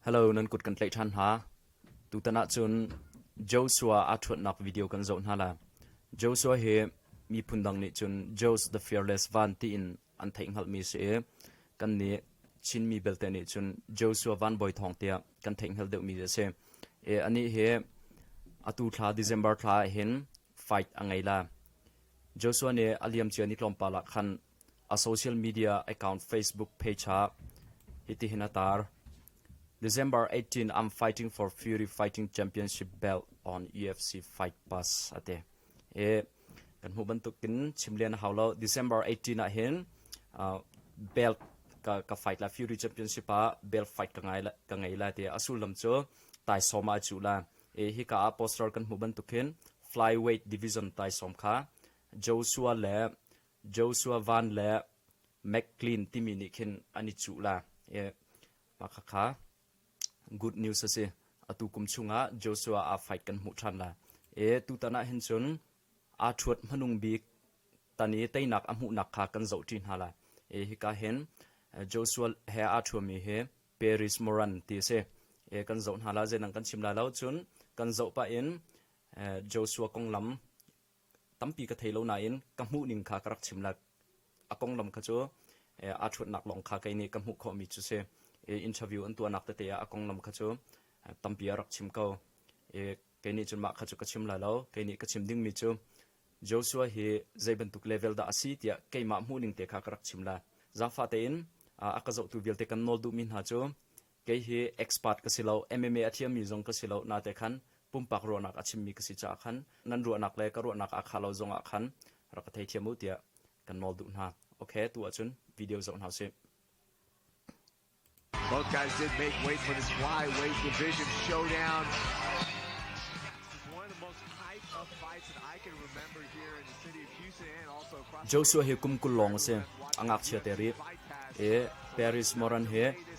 Hello, nan kut kan tlaih ṭhan hna. Tutan ahcun Joshua aa ṭhuatnak video kan zoh hna la. Joshua hi miphun dang nih cun Josh the Fearless Van tiin an theih hngalhmi a si i kan nih Chinmi belte nih cun Joshua Van Bawi Thawng tiah kan theih hngal deuhmi a si. E, anih hi atu thla December thla ah hin fight a ngei la. Joshua nih a liamcia ni tlawmpal ah khan A social media account Facebook page ah hitihin a tar: December 18, I'm fighting for Fury Fighting Championship belt on UFC Fight Pass a ti. E, kan hmuh bantukin chim len a hau lo. December 18 ah hin uh, belt ka, ka fight la Fury Championship ah belt fight ka ngai la, ka ngei la ti. A sullam cu taisawm ah cu la. E, hi ka ah poster kan hmuh bantukin flyweight division taisawm kha Joshua le Joshua van le McClean timi nih khin an i cuh la i mah khakha good news a si. Atu kum chungah Joshua aa fight kan hmuh ṭhan la. E tutan ah hin cun aa ṭhuat hmanung bik tan i teinak a hmuhnak kha kan zoh ṭi hna la. E hika hin Joshua he aa ṭhuami hi Paris Moran ti a si. E kan zoh hna la, zeinan kan chim lai lo cun kan zoh pah in Joshua konglam tampi ka thei lo nain ka hmuhning kha ka rak chim lak a konglam kha cu aa ṭhuatnak lawng kha kei nih ka hmuh khawhmi cu si interview an tuahnak tete ah a konglam kha cu tampi a rak chim ko kei nih cun mah kha cu ka chim lai lo kei nih ka chim dingmi cu Joshua hi zei bantuk level dah a si tiah keimah hmuhning te kha ka rak chim lai zaangfah tein a ka zohtu vialte kan nawl duhmi hna cu Kei hi expert ka si lo, MMA a thiammi zong ka si lo, nate khan pumpak ruahnak a chimmi ka si caah khan nan ruahnak le ka ruahnak aa khah lo zongah khan rak ka theithiam u tiah kan nawl duh hna. Ok, tu ahcun video zoh hna usih. Both guys did make way for this flyweight division showdown. Joshua hi kum kul long a si. A ngakchia te rip. E Paris Moran hi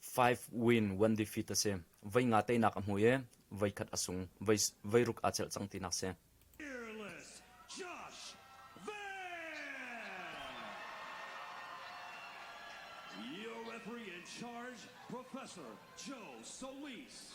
Five win, one defeat a si. Voi nga teinak a hmui i voi khat a sung. Voi, voi ruk aa chelh cang tinak si. Fearless Josh Van. Your referee in charge, Professor Joe Solis.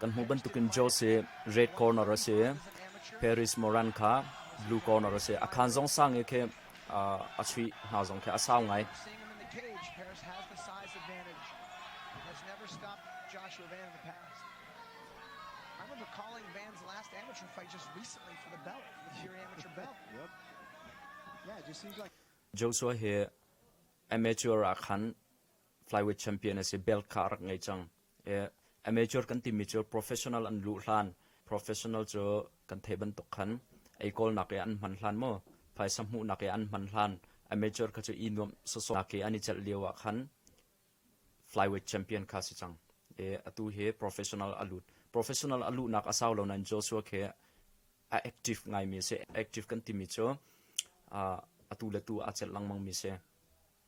Kan hmuh bantukin Jose red corner a si, Paris Moran kha blue corner a si. A khan zong sang i khe a chuih hna zong khe a sau ngai. Joshua hi amateur ah khan flyweight champion a si, belt kha a rak ngei cang. A major kan timi cu professional an luh hlan, professional cu kan theih bantuk khan ei kawlnak i an hman hlan maw, phaisa hmuhnak i an hman hlan, a major kha cu i nuamh sawsawnak i an i celh lio ah khan flyweight champion kha si cang. I atu hi professional a lut. Professional a luhnak a sau lo nain Joshua khi a active ngaimi a si. Active kan timi cu atu le tu aa celh lengmang mi si.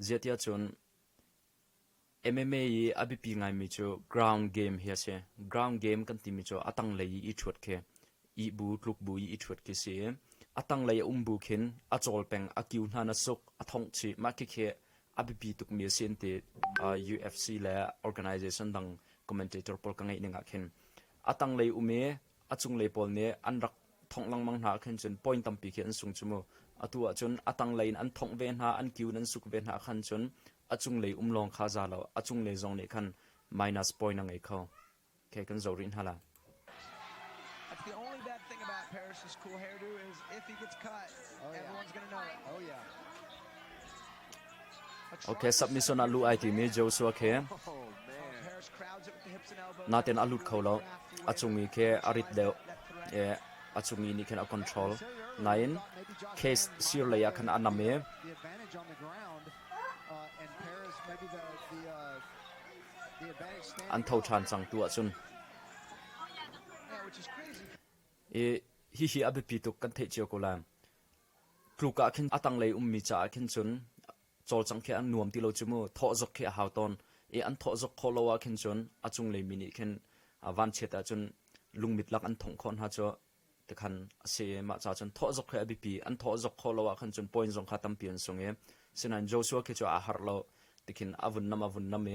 Zeitiah cun MMA i a biapi ngaimi cu ground game hi a si. Ground game kan timi cu a tanglei i i ṭhuat khi, ih bu, tluk bu i i ṭhuat khi a si i, a tanglei a um bu khin a cawl peng, a kiu hna na suk, a thongh chih, mah khikhi a biapi tukmi a si an ti. Uh, UFC le organization dang commentator pawl ka ngeih ning ah khin. A tanglei um i a cunglei pawl nih an rak thongh lengmang hna ahkhin cun point tampi khi an sung cu mu. Atu ahcun a tanglei in an thongh ve hna, an kiu in an suk ve hna ahkhan cun a cunglei um lawng kha za lo, a cunglei zong nih khan minus point a ngei kho. Okay, kan zoh rih hna la. The only bad thing about Paris's cool hairdo is if he gets cut, oh, yeah. everyone's going to know it. Oh, yeah. Submission ah luh ai timi Joshua khi natein a lut kho lo. A chungmi khi a rit deuh i a chungmi nih khin a control. Nain case sir lei ah khan a nam i an tho ṭhan cang tu ahcun i hihi a biapi tuk kan theih cio ko lai. tluk ah khin a tanglei ummi caah khin cun cawlcang khi a nuam ti lo cu mu thawh zok khi a hau tawn i an thawh zok khawh lo ah khin cun a cunglei mi nih khin vanchiat ah cun lungmit lak an thongh khawh hna cu tikhan a si i mah ca cun thawh zok khi a biapi an thawh zok khawh lo ah khan cun point zong kha tampi an sung i sinain Joshua khi cu aa harh lo tikhin a vun nam a vun nam i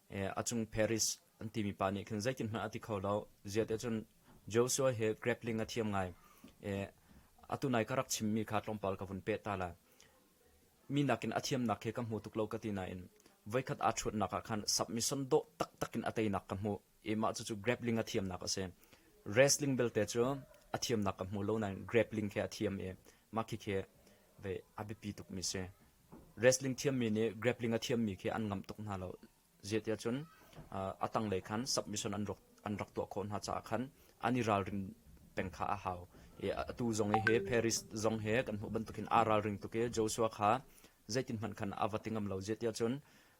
a cung Paris an timi pa nih khin zeitinhmanh a ti kho lo. Ziate cun Joshua hi grappling a thiam ngai. Atu nai ka rak chimmi kha tlawmpal ka vun peh ta la. Mi nakin a thiamnak khi ka hmu tuk lo ka ti nain voikhat aa ṭhuatnak ah khan submission dawh taktak in a teinak ka hmuh i mah cucu grappling a thiamnak a si. Wrestling belte cu a thiamnak ka hmu lo nain grappling khi a thiam i mah khi khi a biapi tukmi si. Wrestling thiammi nih grappling a thiammi khi an ngam tuk hna lo. Zeitiah cun a tanglei khan submission an rak, an rak tuah khawh hna caah khan an i ralrin peng kha a hau. I atu zong i hi Paris zong hi kan hmuh bantukin aa ralring tuk i Joshua kha zeitin hmanh khan a va ti ngam lo. Zeitiah cun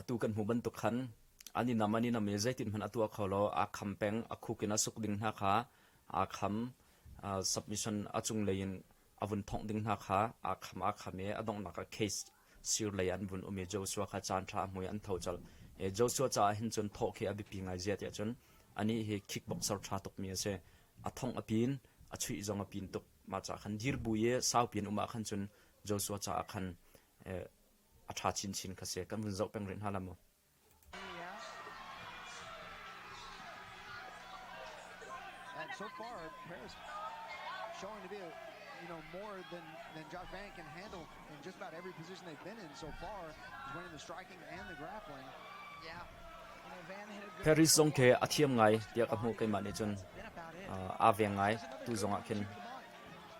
Atu kan hmuh bantuk khan an i nam an i nam i zeitin hmanh a tuah kho lo aa kham peng a khuk in a suk ding hna kha aa kham submission a cunglei in a vun thongh ding hna kha aa kham aa kham i a donghnak ah case sir lei an vun um i Joshua kha caan ṭha a hmui an tho col i Joshua caah hin cun thawh khi a biapi ngai zia tiah cun anih hi kickboxer ṭha tukmi a si a thongh a pin a chuih zong a pin tuk mah ca khan dir bu i saupi an um ah khan cun Joshua caah khan A ṭha chinchin kha si, kan vun zoh peng rih hna lam maw? And so far, Paris showing to be, you know, more than than Josh Van can handle in just about every position they've been in so far. He's winning the striking and the grappling. Yeah. Paris zong khi a thiam ngai tiah ka hmuh keimah nih cun aa veng ngai tu zongah khin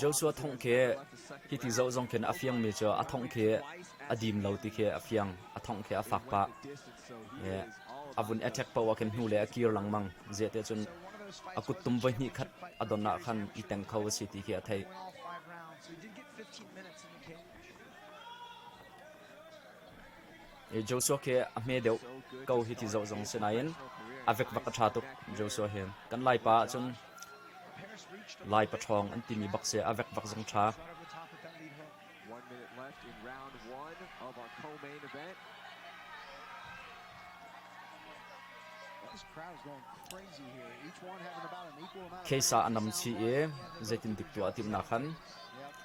Joshua thongh khi hi ti zoh zong khin a fiangmi cu a thongh khi a dim lo ti khi a fiang. A thongh khi a fak pah. A vun attack poh ah khin hnu le a kir lengmang. Zeite cun a kuttum voi hnih khat a don ah khan i teng kho a si ti khi a theih. Joshua khi a hme deuh ko hi ti zoh zong si nain a vekvek a ṭha tuk Joshua hi. Kan Laipa ahcun Lai paṭhawng an timi bak si a vekvek zong ṭha. Kheisa a nam chih i zeitin dik tuah a timhnak khan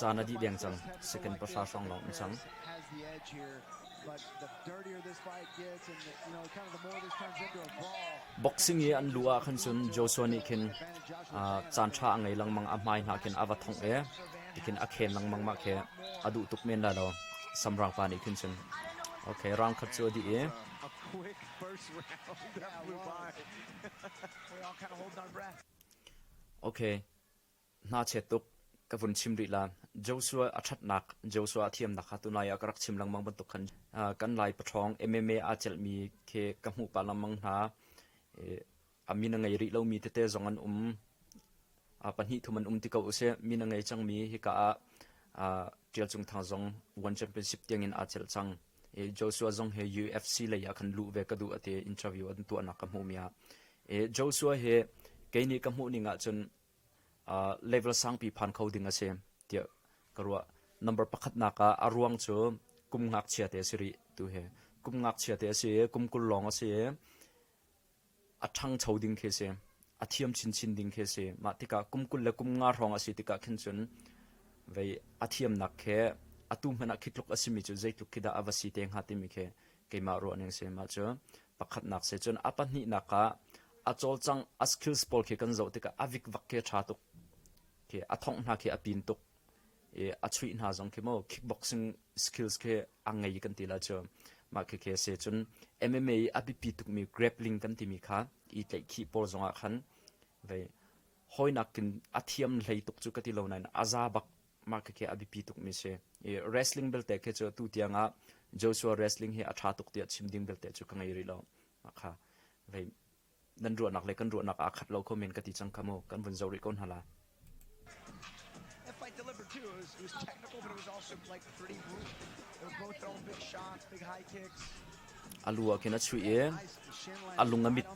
Caan a dih deng cang. Second pahra hrawng lawng an cang. Boxing i an lu ah khan cun Joshua nih khin caan ṭha a ngei lengmang. A hmai hna khin a va thongh i tikhin a khen lengmang mah khi a duh tuk men lai lo. Samrang pa nih khin cun okay round khat cu a dih i okay Hnachiat tuk, ka vun chim rih lan. Joshua a ṭhatnak, Joshua a thiamnak kha tunlai ah ka rak chim lengmang bantuk khan kan Lai paṭhawng MMA aa celhmi khi ka hmuh pah lengmang hna. A min a ngei rih lomi tete zong an um. Pahnih thum an um ti ko usih. Min a ngei cangmi hika ah Ṭial Cung Thang zong One Championship tiangin aa celh cang. Joshua zong hi UFC lei ah khan luh ve ka duh a ti interview an tuahnak ka hmuhmi ah Joshua hi kei nih ka hmuhning ahcun level sangpi phan kho ding a si tiah ka ruah. Number pakhatnak ah a ruang cu kum ngakchia te a si rih tu hi. Kum ngakchia te a si i kum kul lawng a si i a ṭhangcho ding khi a si. A thiam chinchin ding khi a si. Mah tikah kum kul le kum nga hrawng a si tikah khin cun vei a thiamnak khi atu hmanh ah khi tluk a simi cu zeitluk khi dah a va si te hnga timi khi keimah ruahning si. Mah cu pakhatnak si cun a pahnihnak ah a cawlcang a skills pawl khi kan zoh tikah a vikvak khi a ṭha tuk. Khi a thongh hna khi a pin tuk. i a chuih hna zong khi maw kickboxing skills khi a ngei kan ti la cu mah khi khi se cun MMA i a biapi tukmi grappling kan timi kha i tlaihkhih pawl zongah khan vei hoinak kin a thiam hlei tuk cu ka ti lo nain a za bak mah khi khi a biapi tukmi si i wrestling belte khi cu tu tiang ah Joshua wrestling hi a tha tuk tiah chim ding belte cu ka ngei rih lo mah kha vei nan ruahnak le kan ruahnak aa khat lo kho men ka ti cang kha mu kan vun zo rih ko hna la. fight delivered too. It was, it was technical, but it was also like pretty brutal. They were both throwing big shots, big high kicks. A lu a khin a chuih i a lung a mit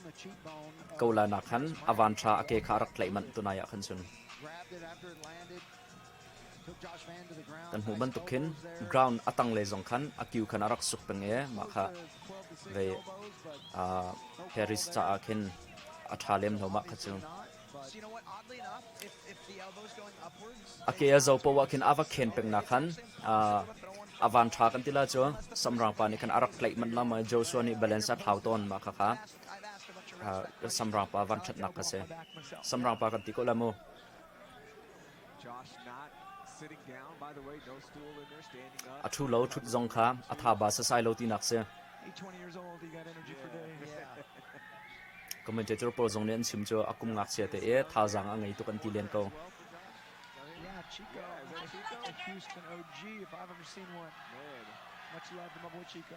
ko la nak khan a van tha a ke kha a rak tlaih manh tunai ah khan chun. Grabbed it after it landed. Kan hmuh bantuk khin ground a tanglei zong khan a kiu khan a rak suk peng i mah kha vei uh, Harris caah khin a ṭha lem lo mah kha cu. A ke a zo poah khin a va khen peng na khan uh, a van ṭha kan tila cu samrang pa nih khan a rak tlaih manh la ma Joshua nih balance a thlau tawn mah kha kha uh, samrang pa van ṭhatnak ka si samrang pa kan ti ko la mu A ṭhu lo ṭhut zong kha a thaba sasai lo tinak si. Commentator pawl zong nih an chim cu a kum ngakchia te i thazaang a ngei tuk an ti len ko. Yeah, Chico. A Houston OG, if I've ever seen one. Man. Much love to my boy Chico.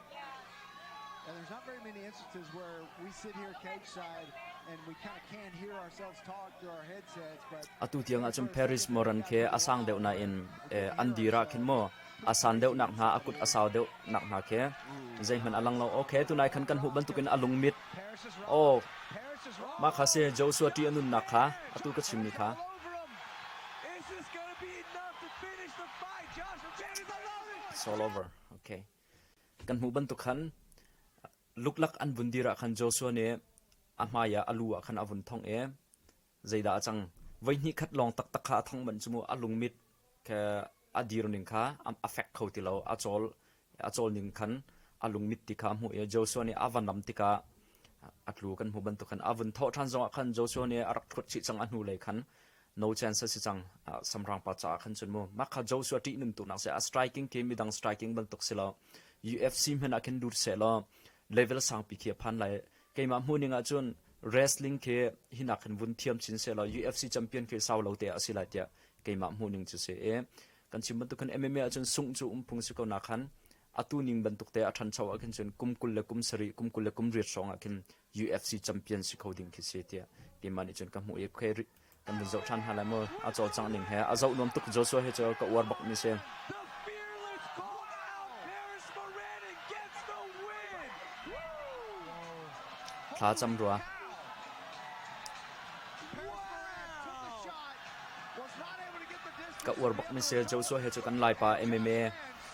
And there's not very many instances where we sit here cage side and we kind of can't hear ourselves talk through our headsets. But atu tiang ahcun Paris Moran khe a sang deuh na in an dira khin mo asan deuh nak hna akut asau deuh nak hna khe zeihman alang lo okay tunai khan kan hu bantukin alung mit oh ma kha se Joshua ti anun nak kha atu ka chim ni kha It's all over okay Kan hmuh bantuk khan luklak an vun dir ah khan Joshua nih a hmaiah a lu ah khan a vun thongh i zeidah a cang? Voi hnih khat lawng taktak kha a thongh manh cu mu a lungmit khe a dir ning kha a fek kho ti lo. A cawl a cawl ning khan a lungmit ti kha a hmuh i Joshua nih a van ram tikah a tlu kan hmuh bantuk khan a vun thawh ṭhan zongah khan Joshua nih a rak ṭhut chih cang a hnulei khan No chance a si cang. Samrangpa caah khan cun mu. Mah kha Joshua ṭihnuntu nak si a striking ke midang striking bantuk si lo UFC hman ah khin lut se law level sangpi khi a phan lai keimah hmuning ah cun wrestling khi hinak khin vun thiam chin se law UFC champion khi sau lo te a si lai tiah keimah hmuning chu si e kan chim bantuk khan MMA ah cun sung chu umphung si ko na khan atu ning bantuk te a than cho a khin cun kum kul le kum sari kum kul le kum riat song a khin UFC champion si kho ding khi si tiah keimah nih cun ka hmuh i khuai ri kan vun zoh ṭhan hna lai maw a cawlcangh ning he a zoh nuam tuk Joshua he cu ka uar bak mi si thla cam rua ka uar bak mi si Joshua he cu kan laipa MMA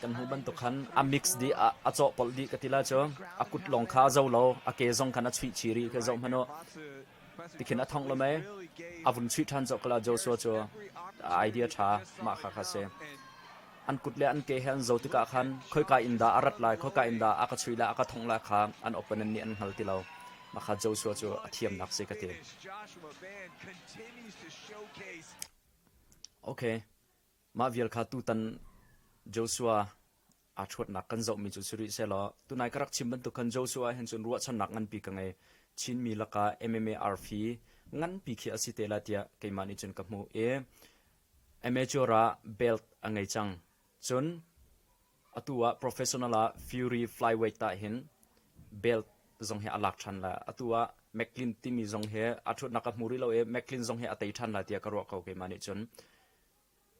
Kan hmuh bantuk khan a mix dih ah a cawhpolh dih ka ti la cu a kut lawng kha a zo lo, a ke zong khan a chuih chih rih khi zoh hmanh u. Tikhin a thong lo mei, a vun chuih ṭhan cawk kala Joshua cu idea ṭha mah kha kha si. An kut le an ke he an zo tikah khan khoika in dah a rat lai, khoika in dah a ka chuih lai, a ka thongh lai kha an opponent nih an hngal ti lo. Mah kha Joshua cu a thiamnak si ka ti. Okay. Mah vial kha tutan Joshua aa ṭhuatnak kan zohmi cu si rih sehlaw tunai ka rak chim bantuk khan Joshua ahhin cun ruahchannak nganpi ka ngei. Chinmi lakah MMA arfi nganpi khi a si te lai tiah keimah nih cun ka hmuh i amateur ah belt a ngei cang. Cun atu ah professional ah Fury flyweight ah hin belt zong hi a lak ṭhan lai. Atu ah McClin timi zong hi a ṭhuatnak ka hmu rih lo i McClin zong hi a tei ṭhan lai tiah ka ruah ko keimah nih cun.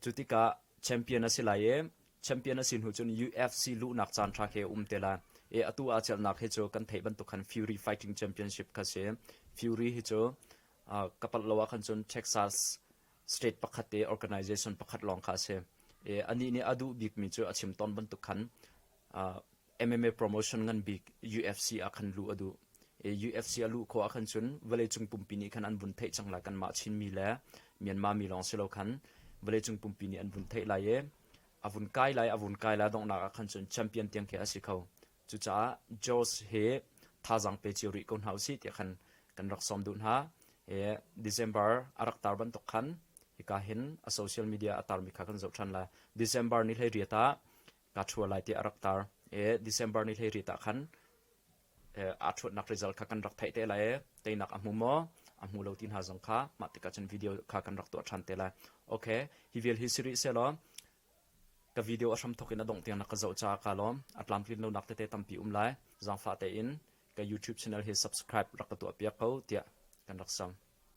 Cu tikah champion a si lai i champion a si hnu cun UFC luhnak caanṭha khi a um te lai i atu aa celhnak hi cu kan theih bantuk khan Fury Fighting Championship kha a si. Fury hi cu uh, ka palh lo ah khan cun Texas state pakhat te organization pakhat lawng kha a si i anih nih a duh bikmi cu a chim tawn bantuk khan uh, MMA promotion ngan bik UFC ah khan luh a duh. UFC a luh khawh ah khan cun vawleicung pumpi nih khan an vun theih cang lai kan mah Chinmi le Myanmar mi lawng si lo khan vawleicung pumpi nih an vun theih lai i a vun kai lai a vun kai lai donghnak ah khan cun champion tiang khi a si kho cucaah George he thazang pe cio rih ko hna usih tiah khan kan rak som duh hna e December a rak tar bantuk khan hika hin a social media a tar mi kha kan zoh than la December ni hlei riata kaa ṭhua lai tiah a rak tar. December ni hleiriat ah khan aa ṭhuatnak result kha kan rak theih te lai i teinak a hmu maw? A hmu lo ti hna zong kha mah tikah cun video kha kan rak tuah ṭhan te lai. Okay, hi vial hi siri sehlaw ka video a hramthok in a dongh tiang na ka zoh caah ka lawm. A tlamtlin lonak tete tampi um lai. Zangfah tein ka YouTube channel hi subscribe rak ka tuah piak ko tiah kan rak sam.